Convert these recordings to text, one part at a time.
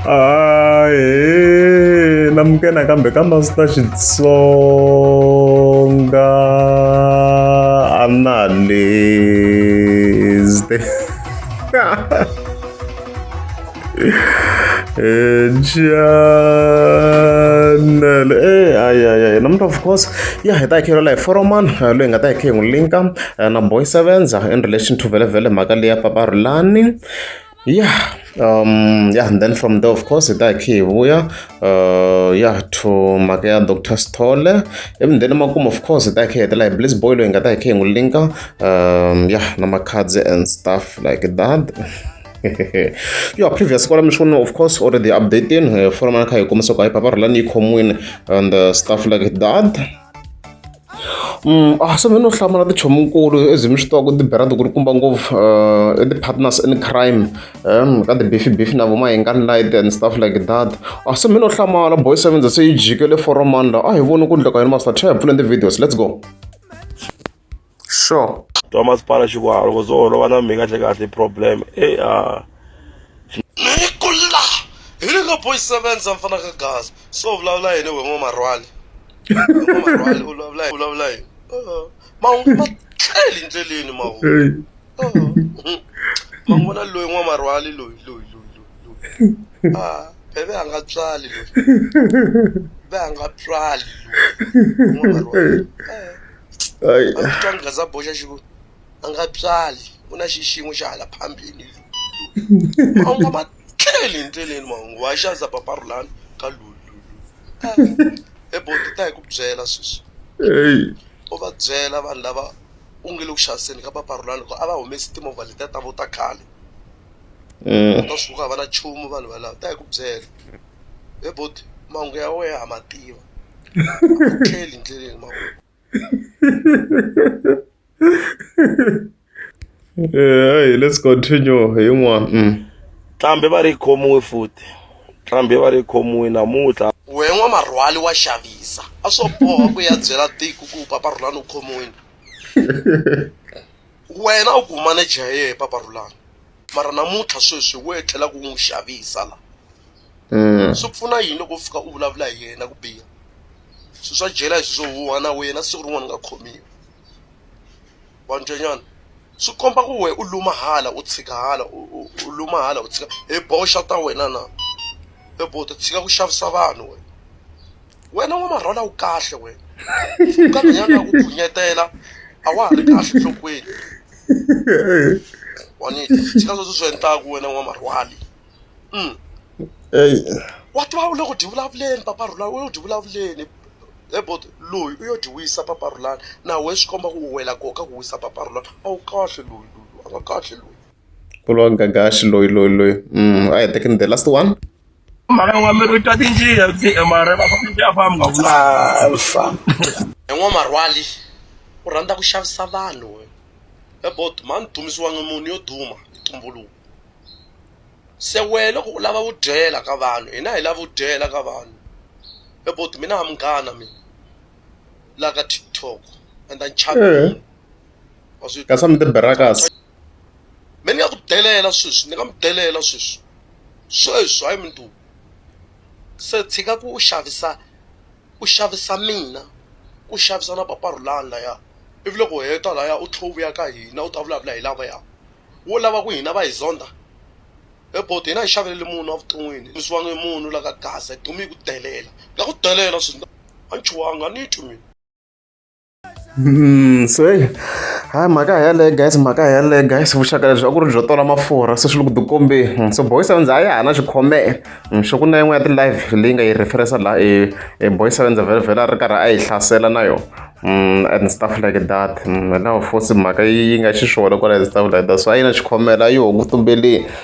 ae namukena kambe kambe a ndzi ta xitsonga a na leste channel eh ay ay ay namuntlha of course ya hi ta hi khe lola hi foroman loyi hi nga ta hi khe hi n'wi linka Number yi sevenza in relation to vhelemvhele mhaka leyi ya Papa Rhulani. Yeah, um, yeah, and then from there of course hi ta hi khe hi vuya uh, yeah to mhaka ya Dr. Sithole. Ivi then emakumu of course hi ta hi khe hi hetela hi Bliss Boy loyi hi nga ta hi khe hi n'wi linka um, yeah na makhadzi and stuff like that. yo previous kwala mi swona of course already updating uh, fora mana kha hi kombisa ku hayi Papa Rhulani yi khomiwile and uh, stuff like that. A swi no hlamula tichomonkulu as mi swi tiva ku tibera tikulukumba ngopfu i ti-partners in crime ka ti-beef beef na vo ma hingani light and stuff like that a swi mi no hlamala boy seventy se yi jike le four mani laha a hi voni ku endleka yini masta hi pfuleni ti-videos let's go sure twa masipala xikwalo ku swo holova na mi kahle kahle problem e a ni ku la hi le ka boy sevenza mfana ka gaza so vulavula yini we n'wamarhwani u vulavula u vulavula hi mahungu ma tlele endleleni mahungu ma vona loyi n'wamarhwali loyi loyi loyi loyi loyi bebe a nga tswali loyi be a nga tswali loyi n'wamarhwali a nga za boxa xi ku a nga tswali ku na xixin'we xa hala phambili loyi mahungu ma tleli hi ndleleni mahungu wa xaza papa rulani ka lululu eboti ta hi ku byela sweswi u va byela vanhu lava u nge le ku xaviseni ka papa rulani ku a va humesi timovha letiya ta vo ta khale eh. ta swi ku hava na chumu vanhu valava ta hi ku byela eboti mahungu ya wehe ha ma tiva tleli hi ndleleni mahungu hey, let's continue yin'wana mm. tlambe va ri khomiwe futi tlambe va ri khomiwe namuntlha we n'wamarhwali wa xavisa a swo boha ku ya byela tiko ku paparhulani u khomiwini Wena u gumane Jaye Papa Rhulani mara namuntlha sweswi wo etlela ku n'wi xavisa la mm. swi pfuna yini loko u fika u vulavula hi yena ku biha swi swa jela hi swi swo huwa na wena siku rin'wana nga khomiwa vanjanyana swi komba ku we u luma hala u tshika hala u luma hala u tshika hi boxa ta wena na hi bo ti tshika ku xavisa vanhu wena wena wa marhwala u kahle wena u ka nhwanyana ku phunyetela a wa ha ri kahle nhlokweni wanita tshika sweswo swi endlaku wena wa marhwali mm. wa tiva u le ku dyi vulavuleni papa rhulani u yo dyi vulavuleni ebot loyi u yo dyi wisa papa rhulani na we swi komba ku u wela koka ku wisa papa rhulani a wu kahle loyi loyi a nga kahle loyi ku lowa gagaxi loyi loyi loyi mm, a hi tekeni the last one mhaka n'wa mi ri ta tinjiya mara va fanele a famba nga vula alfa en'wamarhwali u rhandza ku xavisa vanhu we ebot mhani dumisiwangi munhu yo duma hi tumbuluko se wehe loko u lava vudyela ka vanhu hina hi lava vudyela ka vanhu ebot mina ha munghana mina la ka tiktok and ni chava eh. wa swi kasi a mi ti berakas me ni nga ku delela sweswi ni nga mi delela sweswi Sweswi hayi Mdu! Se tshika ku xavisa u xavisa mina u xavisa na papa Rhulani laya ivi loko u heta laya u tlhela u vuya ka hina u ta vulavula hi lavaya wo lava ku hina va hi zonda he bo hina hi xavelele munhu evuton'wini hi munhu la ka gaza hi dume hi ku delela na ku delela swinene a ni chuhangi a ni twi mina. Hmm, so hi hayi mhaka hi yaleyo guys mhaka hi yaleyo guys vuxaka lebyi a ku ri byo tola mafurha se swi le ku tikombeni hmm, so boys avendza a ya ha na xikhomela hmm, swo ku na yin'we ya ti-live leyi nga yi referensa laha e, e boys avendza vhelavhele a ri karhi a yi hlasela na yona and stuff like that hilaho fosi mhaka yi nga xiswona kwala and stuff like that so a yi na xikhomela a yi hungu tumbeleni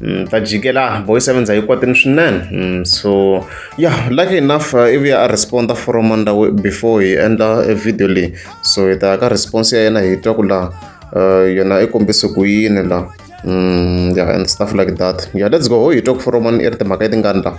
Mm, ta jikela boy seven za yi kwatini swinene mm, so ya lucky enough uh, ivi a responda from ndawu before hi endla e video leyi so hi ta ka response ya yena hi twa ku laha uh, yona i kombise ku yini laha mm, ya and stuff like that ya let's go ho hi twa ku from i ri timhaka yi tingani laha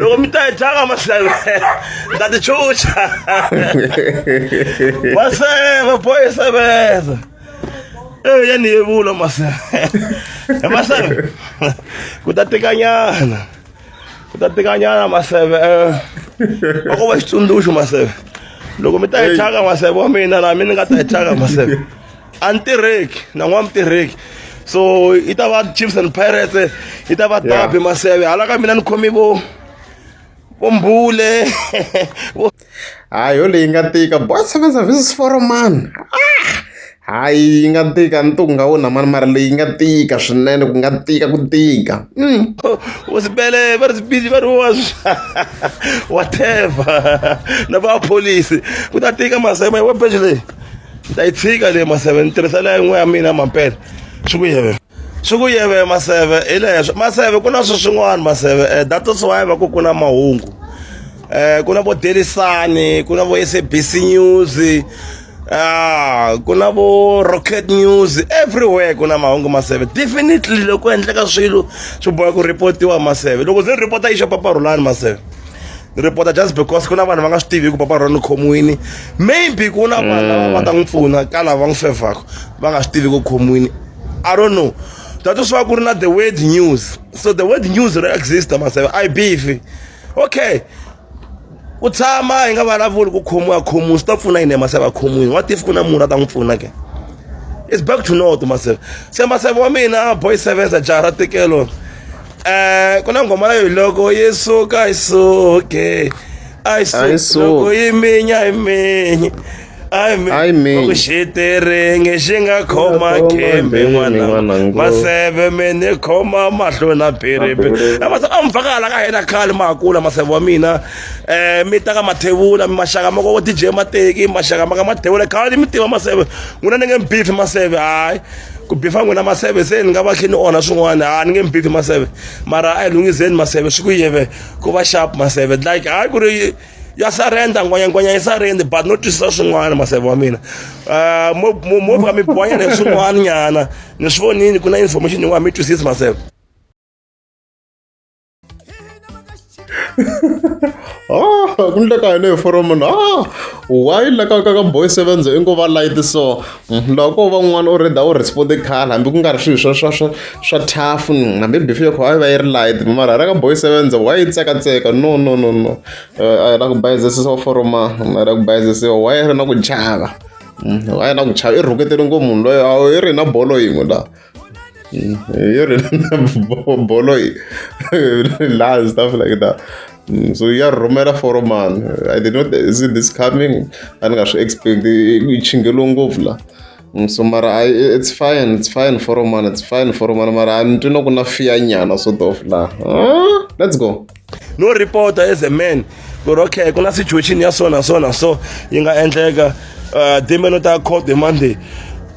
loko mi ta yi tlanga mahlelo ni ta tichucha maseve boy sevenza eyi ya ni yevula maseve e maseve ku ta tikanyana ku ta tikanyana maseve va ko va xitsundzuxo maseve loko mi ta yi tlanga maseve wa mina laha mi ni nga ta yi tlanga maseve a ni tirheki na n'wana mutirheki so yi ta va chiefs and pirates yi ta va dabi maseve hala ka mina ni khomi vo vo mbule hayi yo leyi nga tika boy seven services for a man ah! hayi yi nga tika ntuku nga wona mani mara leyi nga tika swinene ku nga tika ku tika mm. u sibele va ri sibili va ri wa whatever na va pholisi ku ta tika masema hi webeji leyi ni ta yi tshika leyi maseve ni tirhisela yin'we ya mina mampela swi ku yeve swi ku yeve maseve hi leswo maseve ku na swi swin'wana maseve um data swiwayi va ku ku na mahungu um ku na vo delisani ku na vo s a b c news Ah, ku na vo rocket news everywhere ku na mahungu maseve definitely loko endleka swilo swi boha ku reportiwa maseve loko ze ni report-a yi xopapa rhulani maseve ni report just because ku na vanhu va nga swi tivi ku papa rona khomiwini maybe ku na vanhu lava va ta n'wi pfuna ka lava n'wi fevhaka va nga swi tivi ku khomiwini i don't know thato swi va ku ri na the word news so the word news ri exista maseve i beef okay ku tshama hi nga vulavuli ku khomiwa khomiwi swi ta pfuna yini maseve a khomiwini what if ku na munhu a ta n'wi pfuna ke it's back to north maseve se maseve wa mina boy sevens a jaha ra tekelo eh kuna ngoma leyo loko yesuka isuke ayisuka iminya iminya ayiminya xiterenge xi nga khoma khembe n'wana maseve mi ni khoma mahlo na phiripi a mi fakala ka hina khale ma ha kula maseve wa mina um mi ta ka mathevula mi maxaka ma ko dj mateki maxaka ma ka mathevula khale mi tiva maseve n'wina ni nge mi bifi maseve hayi ku bifa n'wina maseve se ni nga va khe ni onha swin'wana a ni nge mi bifi maseve mara a hi lunghiseni maseve swi ku yeve ku va sharp maseve like hayi ku ri ya sarenda ngwanyangwanya yi sarende but no twisisa swin'wana maseve wa mina ah, mo ka mi bonya ni swin'wana nyana ni swi vonini ku na information yin'wana mi twisisi maseve Ah, ku ni leka yeleyo foromo na ah, why leka ka ka boy sevens i ngo va light so mm, loko va n'wana u reda u responde khale hambi ku nga ri swilo swa swa swa swa tough mm, hambi bifi yokho a yi va yi ri light mara ra ka boy sevens why yi tsekatseka no no no no eh, a yi la ku bayizisiwa foroma mm, a yi la ku bayizisiwa why yi ri na ku chava a yi na ku chava i rhuketele ngo munhu loyo a yi ri na bolo yin'we laha You're a bolo lies, stuff like that. Mm, so ya rhumela for mani i did not see this coming a ni nga swi expect yi chingelo ngopfu la mm, so mara I, it's fine it's fine for mani it's fine for mani mara a ni twi na ku na fiya nyana sort of la let's go no reporter as a man ku ri okay ku na situation ya so na so na so yi nga endleka uh, dembe no ta court the monday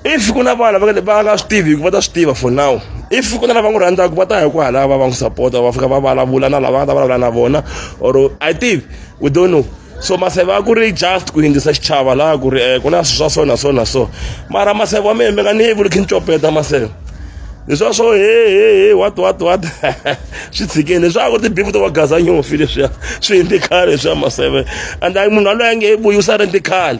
if ku na vana va nga swi tivi va ta swi tiva for now if ku na lava n'wi rhandzaka va ta ya ku halava va n'wi sapota va fika va vulavula na lava nga ta vulavula na vona or i think we don't know so maseve a ku ri just ku yindzisa xichava laha ku ri um ku na swi swa so na so na so mara maseve wa mehe mi nga ni yi vuli khi ni copeta maseve hi swa swo he he he wat wat wat swi tshikeni leswaku ri tibifu to va gaza nyofi leswiya swi hindzi khale leswiya maseve and munhu waloye a nge he vuyi u sale ndzi khale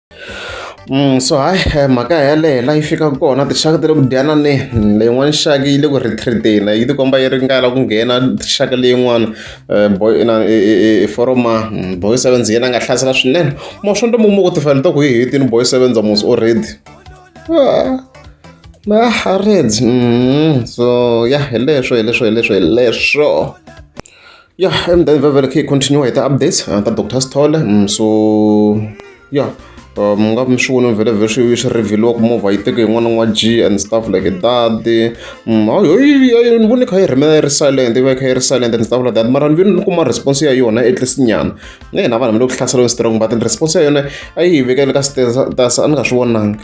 so hayi mhaka yaleyo la yi fikaka kona tinxaka ti le ku dyananeni leyin'wani xaka yi le ku retreat-eni yi ti komba yi ringana ku nghena xaka leyin'wani boy inani i foroma boy seven yena a nga hlasela swinene mo swo ntomo mo ku tifela to ku yi hetini boy seven za musi already maharezi so ya hi leswo hi leswo hi leswo hi leswo. Yeah, and then very, very key continue hi ti-updates uh, ta Dr. Stole. Mm, so yeah, uh, mi nga mi swi voni vhele vhe swi swi revheliwa ku movha yi teke yin'wana n'wa g and stuff like that mm, a ni vone kha yi rhimela yi ri silent yi va yi kha yi ri silent and stuff like that mara ni vini ni kuma response ya yona atleast nyana na hina vanhu mi le ku hlaseriweni strong but response ya yona a yi hi vekele ka status a ni nga swi vonanga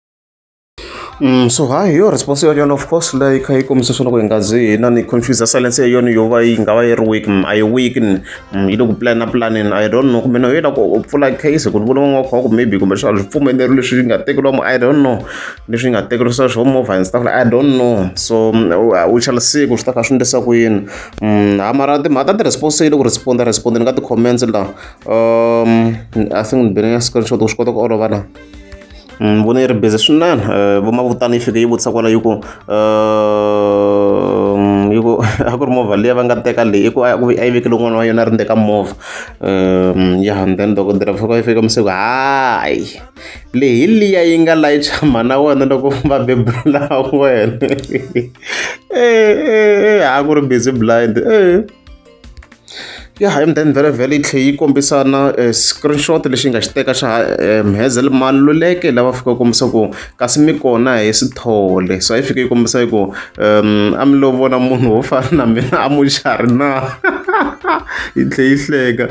Mm, so ha hi yo response yo yona of course leyi kha yi kombisa swona ku hi nga zi hi na ni confuse silence ya yona yo va yi nga va yi ri weak mm, a yi weak ni mm, yi le ku plana planning i don't know kumbe no yi la ku u pfula case ku ni vona n'wana wa kha ku maybe kumbe swa swi pfumeleri leswi yi nga tekeriwa mo i don't know leswi yi nga tekeriwa swa swo movha and stuff like i don't know so u shall see ku swi ta kha swi ndlisa ku yini ha mara timhaka ta ti-response yi le ku responda responda ni ka ti-comments la um i think ni bene ya screenshot ku swi kota ku olova na ni vona yi ri busy swinene vo mavutana yi fike yi vutisa kwala yi ku yi ku a ku ri movha leyi va nga teka leyi i ku a ku a yi vekele n'wana wa yona a ri ndzeni ka movha ya and then dokodela fika yi fika masiku hayi leyi hi liya yi nga layicha mhana wena loko va bebula wena e a ku ri busy blind e Ya hi then vhelavhela yi tlhe yi kombisa na screenshot lexi nga xi teka xa Hazel Maluleke lava fika va kombisa ku kasi mi kona hi Sithole so a yi fike yi kombisa yi ku a mi lo vona munhu wo fana na mina a muxari na yi tlhe yi hleka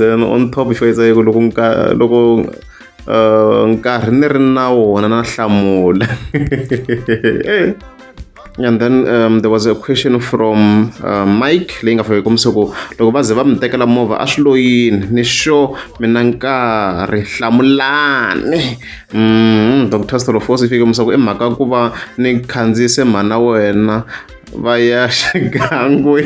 then on top xo yisa yi ku loko nka loko nkarhi ni ri na wona na hlamula. and then um, there was a question from uh, mike leyi nga fake kumse ku loko va ze va mi tekela movha a swi loyini ni sure mina nkarhi hlamulani mm, dr stolofos i fike kumse ku i mhaka ku va ni khandziyise mhana wena va ya xigangwe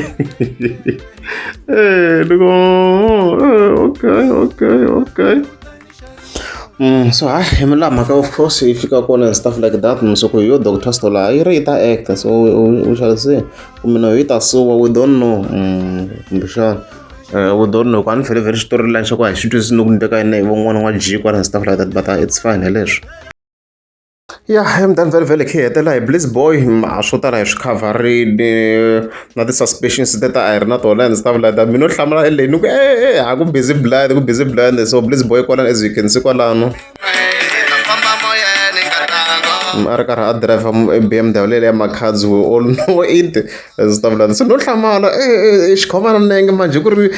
eh, loko oh, okay okay okay Mm, so ha hi la mhaka of course yi fika kona and stuff like that so ku yo doctor store laha yi ri yi ta actor so u xavise kumbe no yi ta suwa we don't know mm, kumbexana eh, we don't know ku a ni fele vhele xitori lani xa ku a hi xi twisisi ni ku ni teka yini hi von'wana n'wa jikwana and stuff like that but uh, it's fine hi leswi Ya eMtlangi Felovhelo hi khe hi hetelela hi Blitz Boy swo tala hi swi khavharile na ti-suspensions teto a hi ri na tona and stuff like that mi no hlamula e leyi ni ku e e ha ku busy blind ku busy blind so Blitz Boy kwalano as you can see kwalano a ri karhi a driver BMW leyi ya Makhadzi we all know it as stuff like that so no hlamala e e xikhomana nenge manje ku ri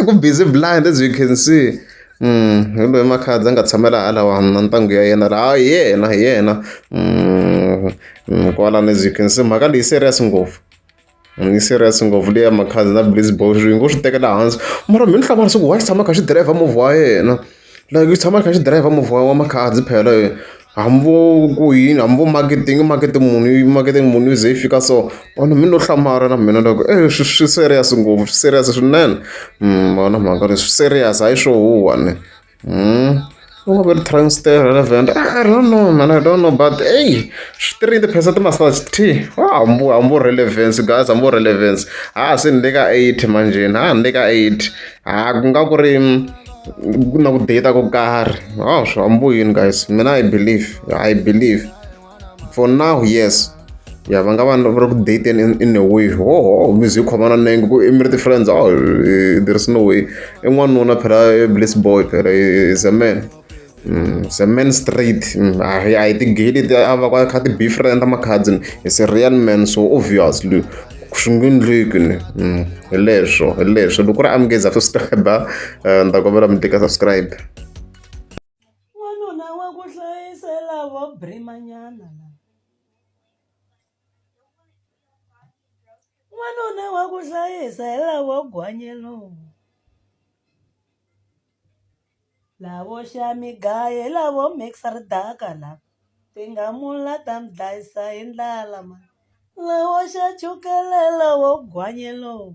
ku busy blind as you can see kumbe makhadzi a nga tshamela hala one na ntanghu ya yena laha hi yena hi yena kwalano as you can see mhaka leyi serious ngopfu ni serious ngopfu leya makhadzi na blaze box yi ngo swi tekela hansi mara mi ni hlava leswaku wa xi tshama kha xi driver movha wa yena like yi tshama yi kha xi driver movha wa makhadzi phela . Hambi vo ku yini hambi vo makete i nge makete muni i makete muni yi ze yi fika so vanhu mi lo hlamala na mina ni ku e swi swi serious ngopfu swi serious swinene ma vona mhaka leyi swi serious hayi swo huhwa ne u nga ve ri transiter relevant I don't know mhani I don't know but ey swi ti ri yini tiphesente ti massage thii hambi vo hambi vo relevant guys hambi vo relevant ha se ni le ka eighty manjheni ha ni le ka eighty ha ku nga ku ri. ku na ku data ko karhi hawu swi hambo yini guys mina i believe i believe for now yes ya va nga va va ri ku dating in, in a way hoho music khomana nenge ku i mi ri ti-friends oh, eh, there is no way i n'wanuna phela eh, bliss boy phela eh, is a man Ze men straight a hi a hi ti-gay a va kha ti boyfriend ta makhadzi ni he's a real man so obviously swi nge endleki ni hi leswo hi leswo loko ku ri amukeza subscribe ni ta kombela mi tika subscribe n'wanuna wa ku hlayisela vo brimanyana n'wanuna wa ku hlayisela vo gwanyelowu Lavo xa mi gaye lavo mix-a ri daka la tingamula ta mi dlayisa hi ndlala ma lavo xa chukele lavo gwanye lowu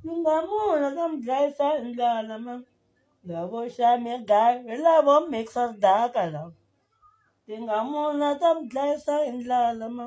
tingamula ta mi dlayisa hi ndlala ma lavo xa mi gaye lavo mix-a ri daka la tingamula ta mi dlayisa hi ndlala ma.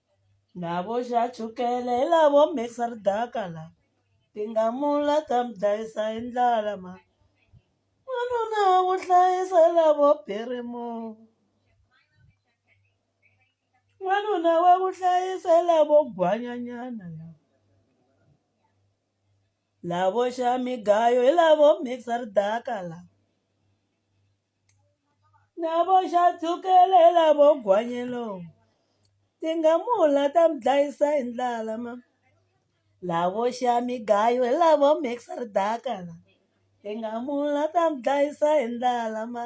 Lavo dya chukele hi lavo mikisa ridaka la ti nga mula ta mi dlayisa hi ndlala ma wanuna wa ku hlayisa hi lavo birimo wanuna wa ku hlayisa hi lavo gwanyanyana la lavo xa migayo hi lavo mikisa ridaka la. na vo xa tshwukelela vo gwanyelo tingamula ta mi dlayisa hi ndlala ma lavo xa mi gayo hi lavo mixo ri daka la tingamula ta mi dlayisa hi ndlala ma.